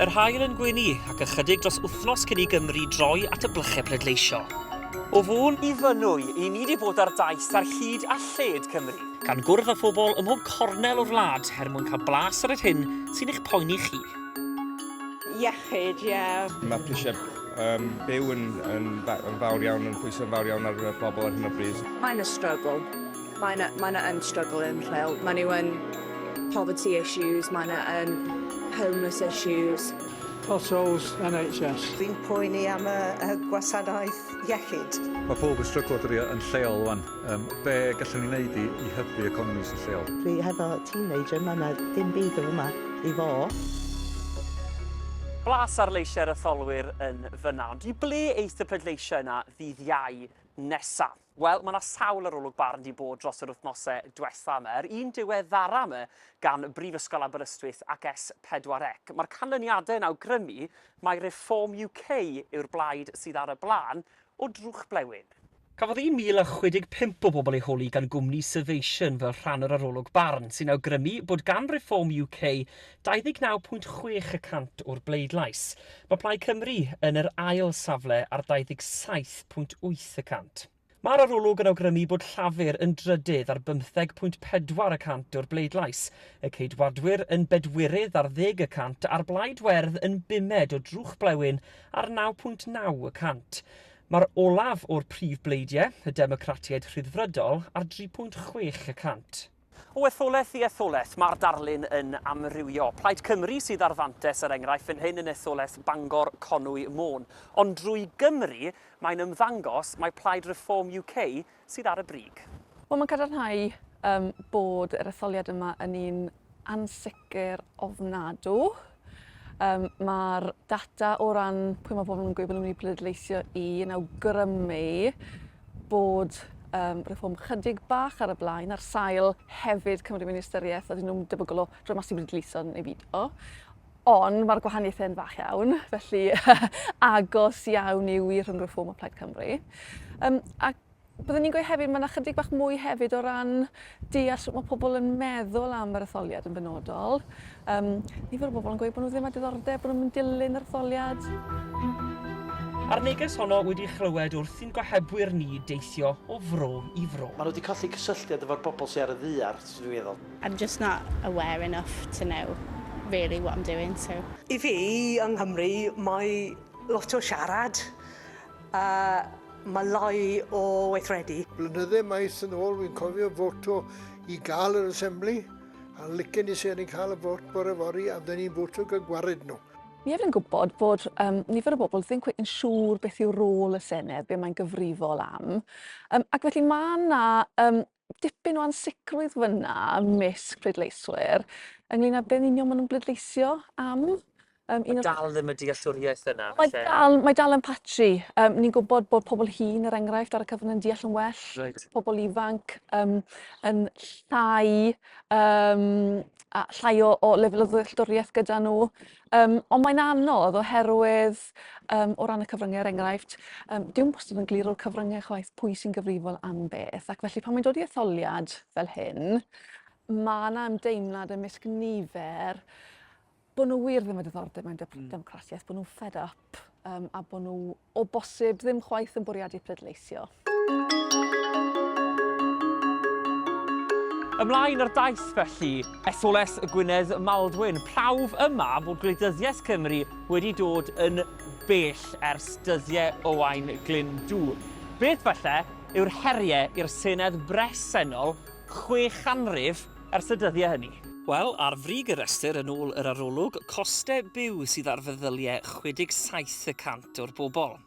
Yr haul yn gwyni ac ychydig dros wythnos cyn i Gymru droi at y blychau pleidleisio. O fôn i fynwy, i ni wedi bod ar daith ar hyd a lled Cymru. Gan gwrdd â phobl ym mhob cornel o'r wlad er mwyn cael blas ar yr hyn sy'n eich poeni chi. Iechyd, ie. Mae prisiau Um, byw yn, yn, yn fawr iawn, yn pwysau yn fawr iawn ar y bobl ar hyn o bryd. Mae yna struggle. Mae yna, mae yna yn struggle yn rheol. Mae nhw yn poverty issues, mae yna yn homeless issues. Potholes, NHS. Fi'n poeni am y, y gwasanaeth iechyd. Mae pob yn stryglo dydi yn lleol wan. Yym, be gallwn ni wneud i i hybu economis y lleol? Dwi hefo teenager 'ma ma' dim byd yn fyma i fo. Blas ar leisiau'r etholwyr yn fyna, ond i ble eith y pleidleisiau yna ddydd Iau nesa? Wel, ma' 'na sawl arolwg barn 'di bod dros yr wythnose dwetha 'ma. Yr un diweddara 'ma gan Brifysgol Aberystwyth ac S4C. Ma'r canlyniade yn awgrymu mai Reform UK yw'r blaid sydd ar y blaen o drwchblewyn. Cafodd 1,065 o bobl eu holi gan gwmni Survation fel rhan o'r arolwg barn, sy'n awgrymu bod gan Reform UK 29.6 y cant o'r bleidlais. Mae Plaid Cymru yn yr ail safle ar 27.8 y cant. Mae'r arolwg yn awgrymu bod Llafur yn drydydd ar 15.4 y cant o'r bleidlais, y Ceidwadwyr yn bedwirydd ar ddeg y cant a'r Blaid Werdd yn bumed o drwch blewyn ar 9.9 y cant. Mae'r olaf o'r prif bleidiau, y Democratiaid Rhyddfrydol, ar 3.6 y cant. O etholaeth i etholaeth, mae'r darlun yn amrywio. Plaid Cymru sydd ar fantais, er enghraifft, fan hyn yn etholaeth Bangor, Conwy, Môn. Ond drwy Gymru, mae'n ymddangos mai Plaid Reform UK sydd ar y brig? Wel, mae'n cadarnhau um, bod yr etholiad yma yn un ansicr ofnadw. Um, Mae'r data o ran pwy mae pobl yn gweud bod nhw'n mynd i bleidleisio i yn awgrymu bod um, reform chydig bach ar y blaen, ar sail hefyd Cymru Ministeriaeth, a dyn nhw'n debygol o rhoi mas i bleidleisio neu byd o. Ond mae'r gwahaniaethau yn fach iawn, felly agos iawn yw i Rhyng Reform a Plaid Cymru. Um, a byddwn ni'n gweud hefyd, mae yna chydig bach mwy hefyd o ran deall sut mae pobl yn meddwl am yr etholiad yn benodol. Um, nifer o bobl yn gweud bod nhw ddim â diddordeb, bod nhw'n mynd dilyn yr etholiad. A'r neges honno wedi chlywed wrth i'n gohebwyr ni deithio o fro i fro. Maen nhw wedi colli cysylltiad efo'r bobl sydd ar y ddaear, sy'n rhyfeddol. I'm just not aware enough to know really what I'm doing so. I fi, yng Nghymru, mae lot o siarad a mae lai o weithredu. Blynydde maith yn ôl fi'n cofio foto i gael yr Assembly a licen i seren cael y vot bore fory a fydden ni'n voto gyda gwared nhw. Ni ef yn gwybod bod um, nifer o bobl ddim cweit yn siŵr beth yw rôl y Senedd, be mae'n gyfrifol am. Um, ac felly mae yna um, dipyn o ansicrwydd fyna ymysg pleidleiswyr ynglyn â be'n union ma' nhw'n bleidleisio am. Yym un o... Dal ddim y dealltwriaeth yna felly? Mae dal, mae dal yn patchy. Yym ni'n gwybod bod pobl hŷn er enghraifft ar y cyfrwng yn deall yn well. Reit. Pobl ifanc yym yn llai yym a llai o o lefel o ddealltwriaeth gyda nhw. Yym, ond mae'n anodd oherwydd um, o ran y cyfryngau, er enghraifft, um, diw'n bostod yn glir o'r cyfryngau chwaith pwy sy'n gyfrifol am beth, ac felly pan mae'n dod i etholiad fel hyn, mae yna ymdeimlad ymysg nifer bod nhw wir ddim yn diddordeb mewn hmm. democratiaeth, bod nhw'n fed up um, a bod nhw O bosib, ddim chwaith yn bwriadu pleidleisio. Ymlaen ar daith felly, SOLS y Gwynedd Maldwyn, prawf yma fod gwleidyddiaeth Cymru wedi dod yn bell ers dyddiau Owain Glyndŵ. Beth falle yw'r heriau i'r Senedd bresennol chwe chanrif Ers y dyddiau hynny. Wel, ar frig y rhestr, yn ôl yr arolwg, costau byw sydd ar feddyliau 67 y cant o'r bobl,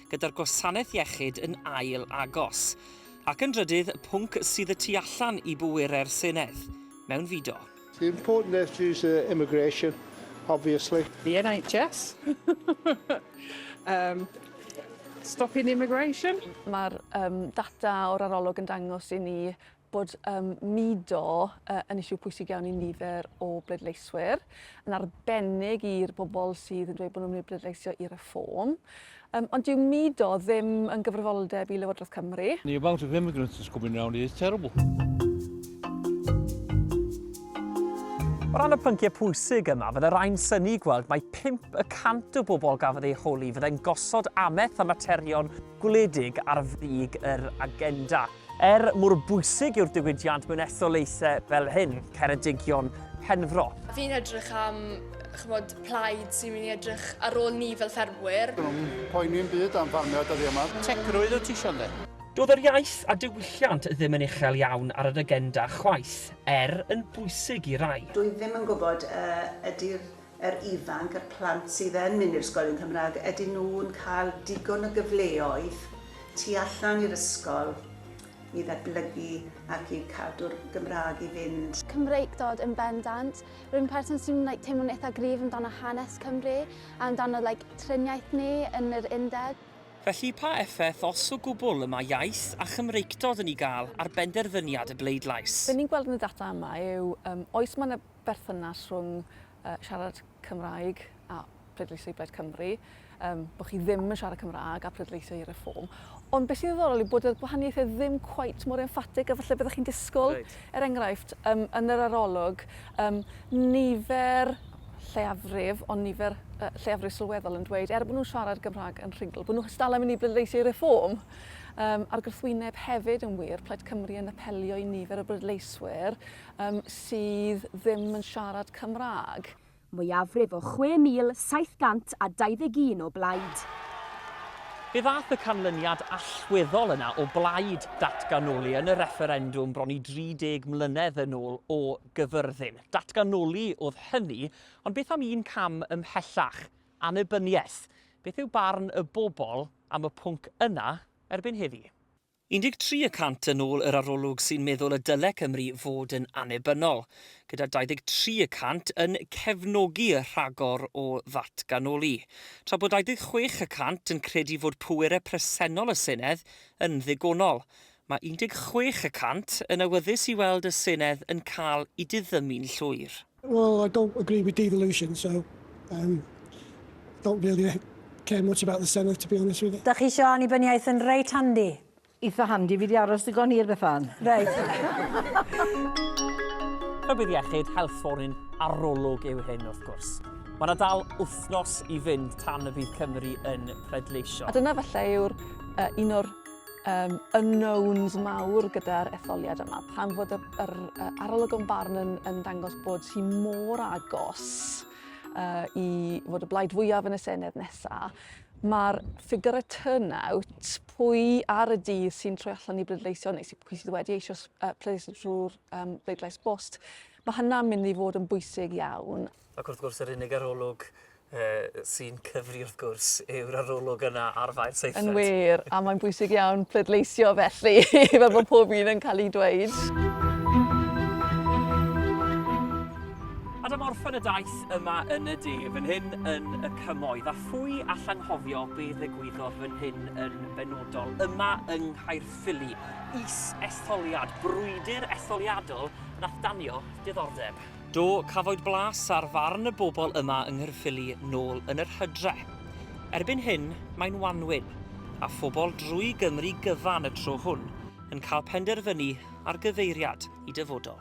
gyda'r gwasanaeth iechyd yn ail agos. Ac yn drydydd, pwnc sydd y tu allan i bwerau'r Senedd, mewnfudo. The important issue is the immigration, obviously. The NHS. um, stopping immigration. Mae'r um, data o'r arolwg yn dangos i ni bod um, mudo uh, yn isiw pwysig iawn i nifer o bleidleiswyr, yn arbennig i'r bobl sydd yn dweud bod nhw'n mynd i bleidleisio i reform. Um, ond dyw mudo ddim yn gyfrifoldeb i Lywodraeth Cymru. The amount of immigrants that's coming around is terrible. O ran y pynciau pwysig yma, fydde rhain syni gweld mae 5 y cant o bobl gafodd eu holi fyddai'n gosod ameth am materion gwledig ar frig yr agenda. Er mor bwysig yw'r diwydiant mewn etholaethau fel hyn, Ceredigion Penfro. Fi'n edrych am chymod, plaid sy'n mynd i edrych ar ôl ni fel ffermwyr. Dwi'n poeni'n byd am ffarmiau dyddi yma. Tegrwydd wyt ti isio ynddi? Doedd yr iaith a diwylliant ddim yn uchel iawn ar yr agenda chwaith, er yn bwysig i rai. Dwi ddim yn gwybod a ydy'r yr ifanc, y plant sydd yn mynd i'r ysgol yn Cymraeg, ydyn nhw'n cael digon o gyfleoedd tu allan i'r ysgol i ddatblygu ac i cadw'r Gymraeg i fynd? Cymreictod yn bendant. Rwy'n person sy'n like, teimlo'n eitha gryf amdano hanes Cymru a amdano like, triniaeth ni yn yr undeb. Felly pa effaith, os o gwbl, y mae iaith a Chymreictod yn ei gael ar benderfyniad y bleidlais? Be ni'n gweld yn y data yma yw, yym, oes mae 'na berthynas rhwng uh, siarad Cymraeg a pleidleisio i Blaid Cymru, um, bod chi ddim yn siarad Cymraeg a pleidleisio i reform. Ond beth sy'n ddiddorol yw bod y gwahaniaethau ddim cweit mor emphatig a falle byddwch chi'n disgwyl. Right. Er enghraifft, um, yn yr arolwg, um, nifer lleiafrif, ond nifer uh, lleiafrif sylweddol yn dweud, er bod nhw'n siarad Gymraeg yn rhingl, bod nhw'n hystal am i ni bleidleisio i reform. Um, a'r gwrthwyneb hefyd yn wir, Plaid Cymru yn apelio i nifer o brydleiswyr Yym, sydd ddim yn siarad Cymraeg. Mwyafrif o 6,721 o blaid. Fe ddaeth y canlyniad allweddol yna o blaid datganoli yn y refferendwm bron i 30 mlynedd yn ôl o Gyfyrddin. Datganoli oedd hynny, ond beth am un cam ymhellach, annibyniaeth? Beth yw barn y bobl am y pwnc yna erbyn heddi? 13 y cant yn ôl yr arolwg sy'n meddwl y dyle Cymru fod yn annibynnol, gyda 23 y cant yn cefnogi y rhagor o ddatganoli, tra bod 26 y cant yn credu fod pwerau presennol y Senedd yn ddigonol. Mae 16 y cant yn awyddus i weld y Senedd yn cael ei diddymu'n llwyr. Well I don't agree with devolution so um don't really care much about the senedd to be honest with you. Dach chi isio annibyniaeth yn reit handi? Eitha handi, fi di aros digon hir Bethan. Reit. Rhybudd iechyd, health warning, arolwg yw hyn wrth gwrs. Mae yna dal wythnos i fynd tan y bydd Cymru yn pleidleisio. A dyna falle yw'r uh, un o'r um, unknowns mawr gyda'r etholiad yma, pan fod y, yr, y arolygon barn yn, yn dangos bod hi mor agos uh, i fod y blaid fwyaf yn y Senedd nesaf, mae'r ffigur y turnout, pwy ar y dydd sy'n troi allan i bleidleisio neu sy'n pwy sydd wedi eisiau uh, pleidleisio trwy'r um, bleidlais bost, mae hynna'n mynd i fod yn bwysig iawn Ac wrth gwrs yr unig arolwg sy'n cyfri wrth gwrs yw'r arolwg yna ar Fair Seithfed. Yn wir, a mae'n bwysig iawn pleidleisio felly, fel bod pob un yn cael ei dweud. Adam orffen y daith yma yn y de, fan hyn yn y cymoedd, a phwy allanghofio be ddigwyddodd fan hyn yn benodol, yma yng Nghaerffili, is-etholiad, brwydr etholiadol nath danio diddordeb. Do, cafwyd blas ar farn y bobl yma yng Nghaerffili nôl yn yr hydre. Erbyn hyn, mae'n wanwyn, a phobl drwy Gymru gyfan y tro hwn yn cael penderfynu ar gyfeiriad i dyfodol.